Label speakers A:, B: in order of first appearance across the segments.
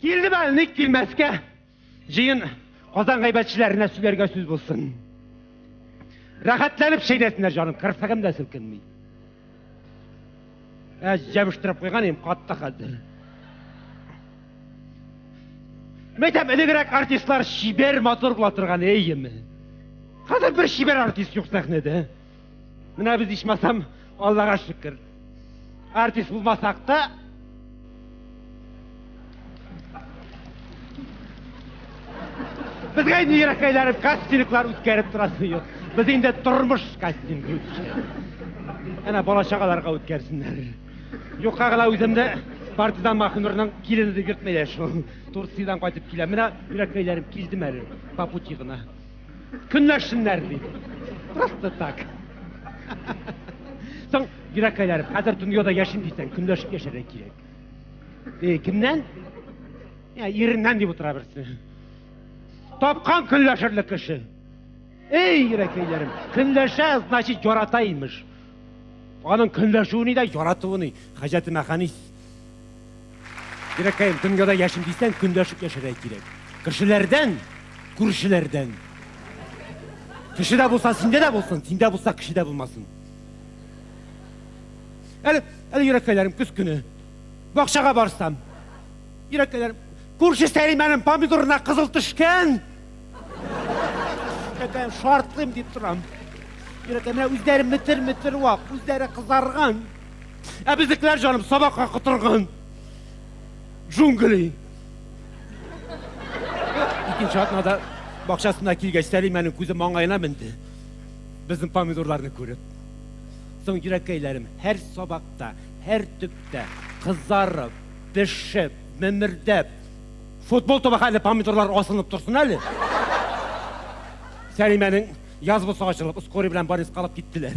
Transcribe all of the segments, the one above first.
A: Килде бәл, ник килмәскә? Җыен Казан гайбәтчеләренә сөйләргә сүз булсын. Рәхәтләнеп шәйнәсеннәр, җаным, кырсыгым да селкенми. Ә җәбештиреп куйган идем, катты хәзер. Мәйтәм, элегрәк артистлар шибер матур була торган, әйеме? Хәзер бер шибер артист юк сәхнәдә. Менә без ичмасам, Аллага шөкер. Артист булмасак та, Безгә инде ерак әйләнеп кастинглар үткәреп торасы юк. Без инде тормыш кастингы үткәрәбез. Әнә бала чагаларга үткәрсеннәр. Юкка гына үземне партизан Махнурның килене дип йөртмәйләр шул. Турциядан кайтып киләм. Менә ерак әйләнеп килдем әле. По пути гына. Көнләшсеннәр ди. Просто так. Соң, Ирак Кайларов, хәзер дөньяда яшим дисәң, көнләшеп яшәргә кирәк. Э, кемнән? Я, иреннән дип утыра берсе. Тапкан көнләшерлек кеше. Эй, Ирак Кайларым, көнләшә, значит, ярата имеш. Аның көнләшүе ни дә, яратуы ни. Хаҗәтемә Хәнис Дирәкәем, дөньяда яшим дисәң, көнләшеп яшәргә кирәк. Кешеләрдән, күршеләрдән. Кешедә булса, синдә дә булсын, синдә булса, кешедә булмасын. Әле, әле йөрәкәйләрем көз көне. Бакчага барсам. Йөрәкәйләрем, күрше Сәлимәнең помидорына кызыл төшкән. Йөрәкәем шартлыйм дип торам. Йөрәкәм, менә үзләре метр-метр вак, үзләре кызарган. Ә безнекеләр, җаным, сабакка котырган. Джунгли. Икенче атнада бакчасына килгәч, Сәлимәнең күзе маңгаена менде. Безнең помидорларны күреп. Соң йөрәккәйләрем һәр сабакта, һәр төптә кызарып, пешеп, мемердәп, футбол тоба хәлле помидорлар асылынып торсын әле. Сәлимәнең яз булса ачылып, скорый белән больницага алып киттеләр.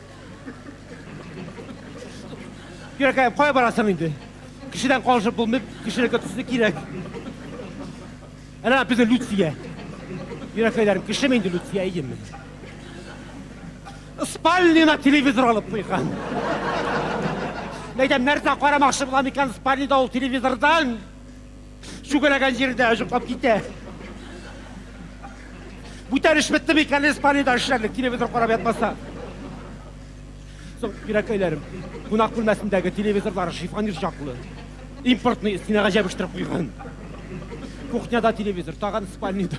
A: Йөрәкәем, кая барасың инде? Кешедән калышып булмый, кешелеккә төсне кирәк. Әнә безнең Люция. Йөрәкәйләрем, кешеме инде Люция, әйеме? Спальнина телевизор алып куйган. Әйтәм, нәрсә карамакчы була микән спальнида ул телевизордан? Сүгәрәгән җирдә җоклап китә. Бүтән эш бетте микән Испаниядә эшләрлек телевизор карап ятмаса. Кирәкәйләрем, кунак бүлмәсендәге телевизорлар шифонер чаклы. Импортный стенага җәбештер куйган. Кухняда телевизор, тагын спальныйда.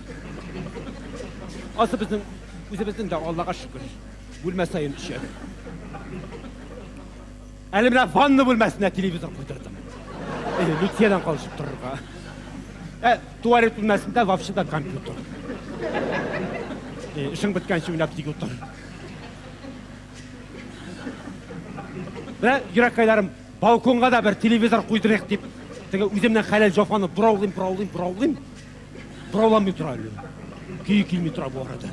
A: Асы безнең үзебезнең дә Аллага шөкер. Бүлмә саен өчәр. Әле менә ванна бүлмәсенә телевизор куйдырдым. Э, Люциядән калышып торырга. Ә туалет бүлмәсендә вообще да компьютер. Э, Эшең беткәнче уйнап тик утыр. Менә йөрәккәйләрем балконга да бер телевизор куйдырыйк дип, теге үземнең хәләл җафаны бораулыйм, бораулыйм, бораулыйм. Борауланмый тора әле. Көе килми тора бу арада.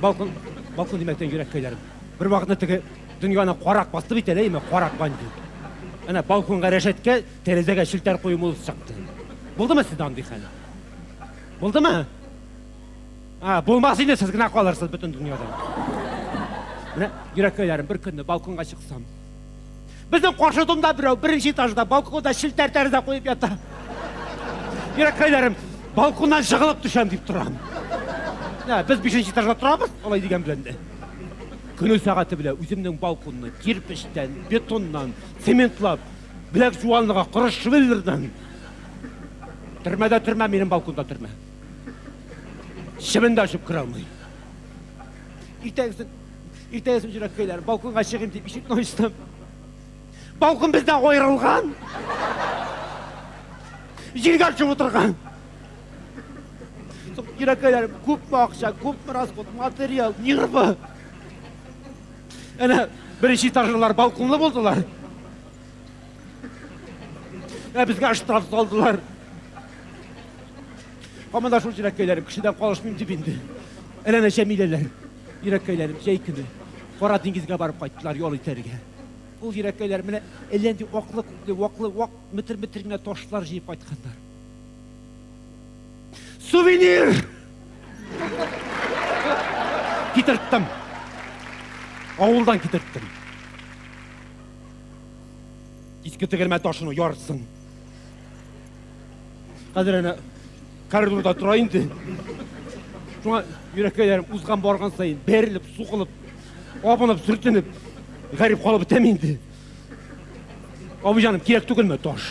A: Балкон, балкон димәктән йөрәк көйләрем. Бер вакытны теге дөньяны карак басты бит әле, әйме, карак банди. Әнә балконга рәшәткә, тәрәзәгә челтәр кую мулысы чыкты. Булдымы сездә андый хәл? Булдымы? А, булмас инде сез генә калырсыз бөтен дөньяда. Менә йөрәк көйләрем, бер көнне балконга чыксам, Безнең каршы тунда берәү беренче этажда балконда челтәр тәрәзә куеп ята. Йөрәккәйләрем, балконнан жыгылып төшәм дип торам. Ә, без бишенче этажда торабыз, алай дигән белән дә. Көне сәгате белә үземнең балконны кирпечтән, бетоннан, цементлап, беләк жуанлыга коры швеллердан. Төрмәдә төрмә, минем балконда төрмә. Шебен дә ачып керә алмый. Иртәгесен Иртәгә сүнчерәк көйләр. Балконга чыгыйм дип ишекне ачтым. Балкон бездә аерылган. Җиргә төшеп утырган. Йөрәкәйләр күпме акча, күпме расход, материал, нервы. Әнә беренче этажлылар балконлы булдылар. Ә безгә штраф салдылар. Һаман да шул җиләккәйләр, кешедән калышмыйм дип инде. Әллә нәчә миләләр. Йөрәккә әйләнеп, җәй көне Кара диңгезгә барып кайттылар ял итәргә. Ул йөрәккәйләр менә әллә нинди аклы-күкле, ваклы, вак метр-метр генә ташлар җыеп кайтканнар. Сувенир! Китерттем. Авылдан китерттем. Иске тегермән ташының яртысын. Хәзер әнә коридорда тора инде. Шуңа йөрәккәйләрем узган барган саен бәрелеп, сугылып, абынып, сүртенеп, гарип калып бетәм инде. Абый җаным, кирәк түгелме таш?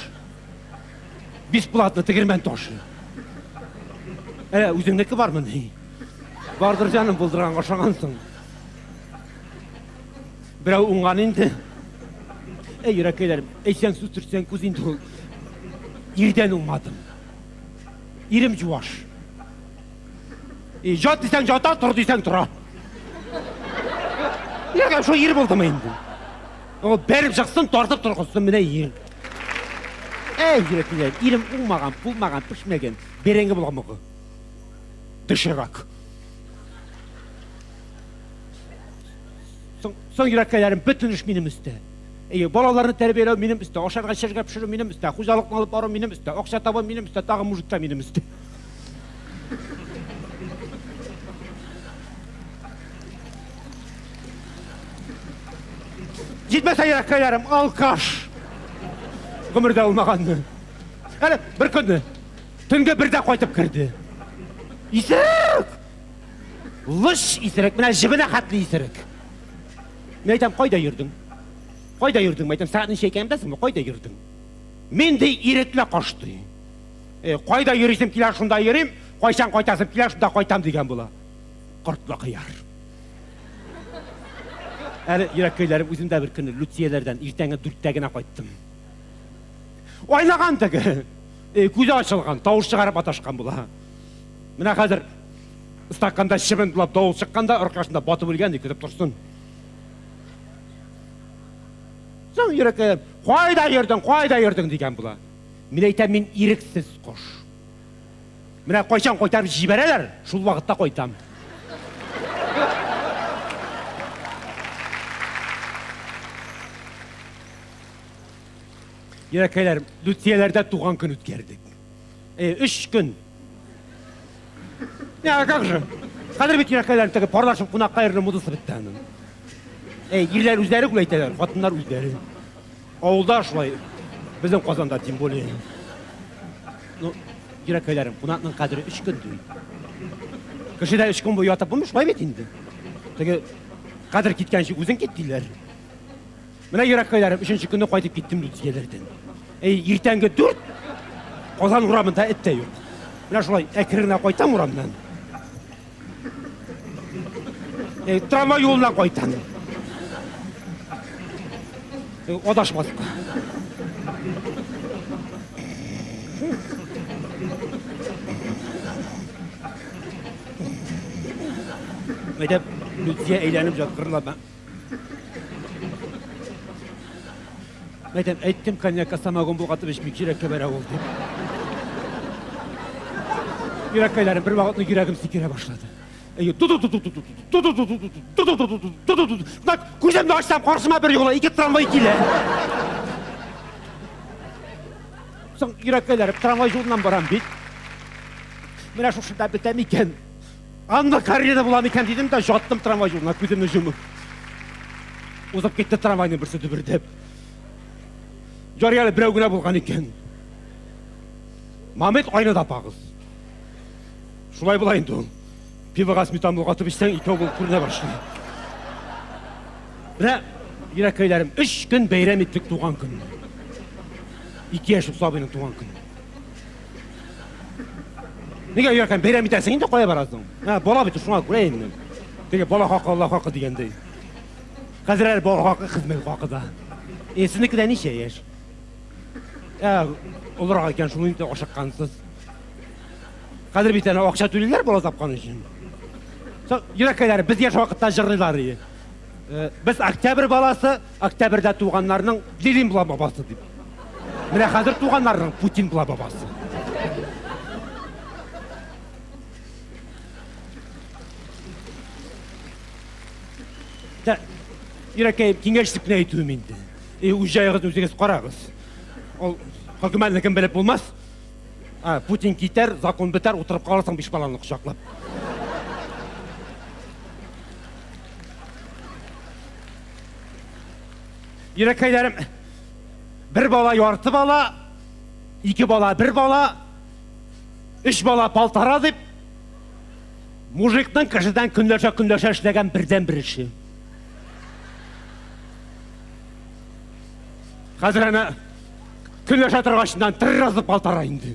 A: Бесплатно тегермән ташы. Ә үзеңнеке бармы ни? Бардыр җаным булдырган ашагансың. Берәү уңган инде. Әй, йөрәкәйләрем, әйсәң сүз төртсәң күз инде ул. Ирдән уңмадым. Ирем җуаш. И, жат дисәң жата, тор дисәң тора. Нигә шул ир булдымы инде? Ул бәреп чыксын, тартып торгызсын, менә ир. Әй, йөрәкләр, ирем уңмаган, булмаган, пешмәгән, бәрәңге буламыгы. Доширак. Соң, соң йөрәккәләрем бөтен эш минем өстә. Әйе, балаларны тәрбияләү минем өстә, ашарга эчәргә пешерү минем өстә, хуҗалыкны алып бару минем өстә, акча табу минем өстә, тагы мужикка минем өстә. Җитмәсә йөрәккәләрем, алкаш. Гомердә булмаганны. Әле бер көнне төнге бердә кайтып керде. Исәк! Лыш исерек, менә җебенә хәтле исерек. Мин әйтәм, кайда йөрдең? Кайда йөрдең? Мәйтәм, сәгать ничә икәнен беләсеңме? Кайда йөрдең? Мин ди ирекле кош ди. Э, кайда йөрисем килә, шунда йөрим, кайчан кайтасым килә, шунда кайтам дигән була. Кортлы кыяр. Әле йөрәк көйләрем үзем дә бер көнне Люцияләрдән иртәнге дүрттә генә кайттым. Айлаган теге. Э, күзе ачылган, тавыш чыгарып маташкан була. Менә хәзер стаканда чебен булып давыл чыкканда аркашында батып үлгән ди, көтеп торсын. Соң йөрәккә, кайда йөрдең, кайда йөрдең дигән була. Мин әйтәм, мин ирексез кош. Менә кайчан кайтарып җибәрәләр, шул вакытта кайтам. Йөрәкәйләр, Лүтияләрдә туган көн үткәрдек. Э, өч көн. Я, как же? Хәзер бит йөрәкләрен теге парлашым кунакка йөрү мудасы бетте аның. Эй, ирләр үзләре күп әйтәләр, хатыннар үзләре. Авылда шулай. Безнең Казанда тем более. Ну, йөрәкләрем, кунакның кадере 3 көн ди. Кешедә 3 көн буе ятып булмый шулай бит инде. Теге кадер киткәнче үзең кит диләр. Менә йөрәккәйләрем, өченче көнне кайтып киттем дүрт егердән. Әй, иртәнге дүрт, Казан урамында эт тә юк. Менә шулай әкренә кайтам урамнан. Әй, трамвай юлына кайтам. Әй, адашмадык. Әйдәп, Лүтия әйләнеп жаткырла. Мәйтәм, әйттем коньяк, самогон булгатып эчмик, йөрәккә бәрә ул дип. Йөрәккәйләрем бер вакытны йөрәгем сикерә башлады. Әйе, Так, күземне ачсам, каршыма бер юлы ике трамвай килә. Соң йөрәккәйләрем трамвай юлыннан барам бит. Менә шушында бетәм икән. Анна Каренина була микән дидем дә, жаттым трамвай юлына, күземне җумып. Узып китте трамвайның берсе дөбердәп. Ярый әле берәү генә булган икән. Мамет айны да пагыз. Шулай була инде ул. Пивога сметан булгатып эчсәң, икәү булып күренә башлый. Менә йөрәкәйләрем, өч көн бәйрәм иттек туган көнне. Ике яшь сабыйның туган көне. Нигә өйәркән бәйрәм итәсең инде кая барасың? Ә, бала бит шуңа күрә инде. Теге бала хакы Аллаһ хакы дигәндәй. Хәзер әле бала хакы хезмәт хакы да. Е, сезнеке дә ничә яшь? Ә, олырак икән шул инде ашыккансыз. Хәзер бит әле акча түлиләр бала тапкан өчен. Йөрәккәләр без яшь вакытта җырлыйлар иде. Э, без октябрь баласы, Октябрьдә туганнарның Ленин була бабасы дип. Менә хәзер туганнарның Путин була бабасы. Дә, Ирәкәем, киңәш итеп кенә әйтүем инде. Э, үз җаегыз үзегез карагыз. Ул хөкүмәтнекен белеп булмас. А, Путин китәр, закон бетәр, утырып каласың биш баланы кочаклап. Йөрәкәйләрем, бер бала ярты бала, ике бала бер бала, өч бала полтора дип, мужикның кешедән көнләшә көнләшә эшләгән бердән бер эше. Хәзер әнә көнләшә торгачыннан тырразып полтора инде.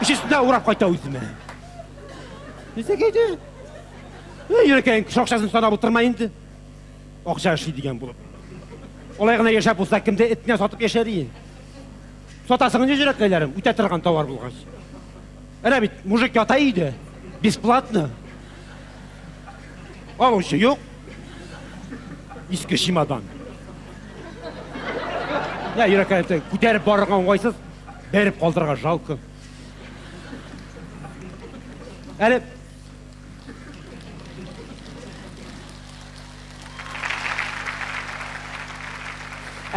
A: Эш өстендә урап кайта үземә. Нисек иде? Йөрәкәйем кеше акчасын санап утырма инде. Акча эшли дигән булып. Олай гына яшәп булса, кемдә этне сатып яшәр ие. Сатасың инде йөрәкәйләрем, үтә торган товар булгач. Әнә бит, мужик ята иде, бесплатно. Алучы юк. Иске чемодан. Я, Иракай, әйтсәң, күтәреп барырга уңайсыз, бәреп калдырырга жалко. Әле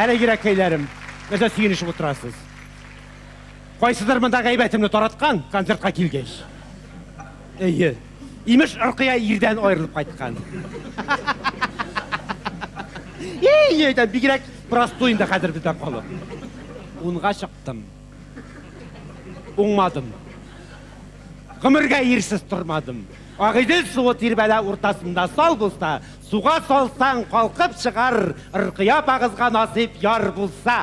A: Әле Иракайларым, нәрсә сөенешеп утырасыз? Кайсыдыр монда гайбәтемне тараткан, концертка килгәч. Әйе. Имеш, Ркыя ирдән аерылып кайткан. Ей, әйтәм, бигрәк простой инде хәзер бездә халык. Унга чыктым. Уңмадым. Гомергә ирсез тормадым. Агыйдел суы тирбәлә уртасында сал булса, Суга салсаң, калкып чыгар, Ркыя апагызга насыйп яр булса.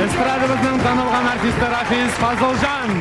A: Эстрадабызның танылган артисты Рафис Фазылҗан!